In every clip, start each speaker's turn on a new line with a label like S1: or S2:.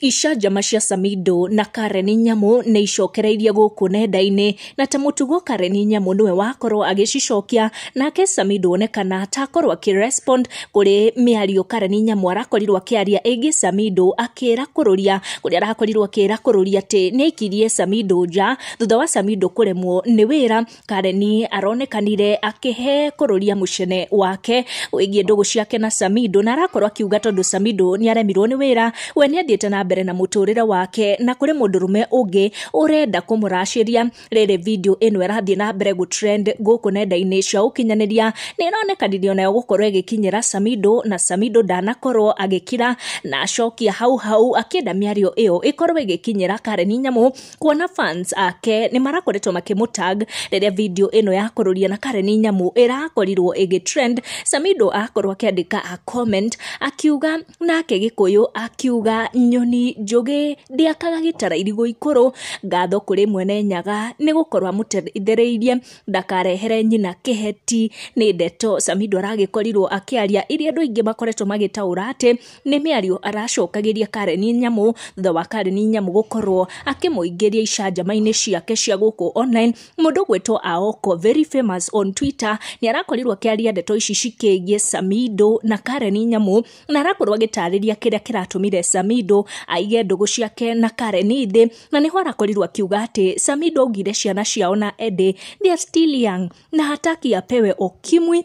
S1: Icanjama cia Samido na Karen Nyamu nĩ icokereirie gũkũ nenda-inĩ na ta mũtugo Karen Nyamu nĩwe wakorwo agĩcicokia nake Samido onekana atakorwo akĩrespond kũrĩ mĩario Karen Nyamu arakorirwo akĩaria ĩgiĩ Samido akĩra kũrũria kũrĩa arakorirwo akĩra kũrũria atĩ nĩ aikirie Samido nja thutha wa Samido kũremwo nĩ wĩra Kareni aronekanire akĩhe kũrũria mũcene wake wĩgiĩ ndũgũ ciake na Samido na arakorwo akiuga tondũ Samido nĩ aremirwo nĩ wĩra we nĩ athiĩte na mbere na mũtũrĩre wake na kũrĩ mũndũrũme ũngĩ ũrenda kũmũracĩria rĩrĩ video ĩno ĩrathiĩ na mbere gũ trend gũkũ nenda-inĩ cia ũkinyanĩria nĩ ĩronekanirie nayo gũkorwo ĩgĩkinyĩra Samido na Samido ndanakorwo agĩkira na acokia hau hau akĩenda mĩario ĩyo ĩkorwo ĩgĩkinyĩra Kareni Nyamũ kuona fans ake nĩ marakoretwo makĩmũtag rĩrĩa video ĩno ya kũrũria na Karen Nyamu ĩrakorirwo ĩgĩtrend Samido akorwo akĩandĩka a comment akiuga nake gĩkũyũ akiuga nyoni njũgĩ ndĩakaga gĩtara irigũ ikũrũ ngatho kũrĩ mwene nyaga nĩ gũkorwo amũteithĩrĩirie ndakarehere nyina kĩheti nĩ ndeto Samido aragĩkorirwo akĩaria iria andũ aingĩ makoretwo magĩtaũra atĩ Nĩ mĩario aracokagĩria Karen Nyamu thutha wa Karen Nyamu gũkorwo akĩmũingĩria icanjama-inĩ ciake cia gũkũ online. Mũndũ ũgwĩtwo Aoko very famous on Twitter nĩ arakorirwo akĩaria ndeto ici cikĩgiĩ Samido na Karen Nyamu, na arakorwo agĩtarĩria kĩrĩa kĩratũmire Samido aige ndũgũ ciake na Karen thĩ, na nĩho arakorirwo akiuga atĩ Samido augire ciana ciao na Eddie they are still young na hataki apewe ukimwi.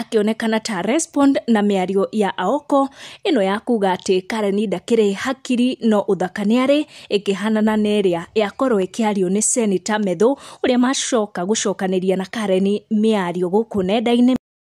S1: akĩonekana ta respond na mĩario ya aoko ĩno ya kuga atĩ karen ndakĩrĩ hakiri no ũthaka nĩ arĩ ĩkĩhanana na ĩrĩa yakorwo ĩkĩario nĩ seneta methũ ũrĩa macoka gũcokanĩria na karen mĩario gũkũ nenda-inĩ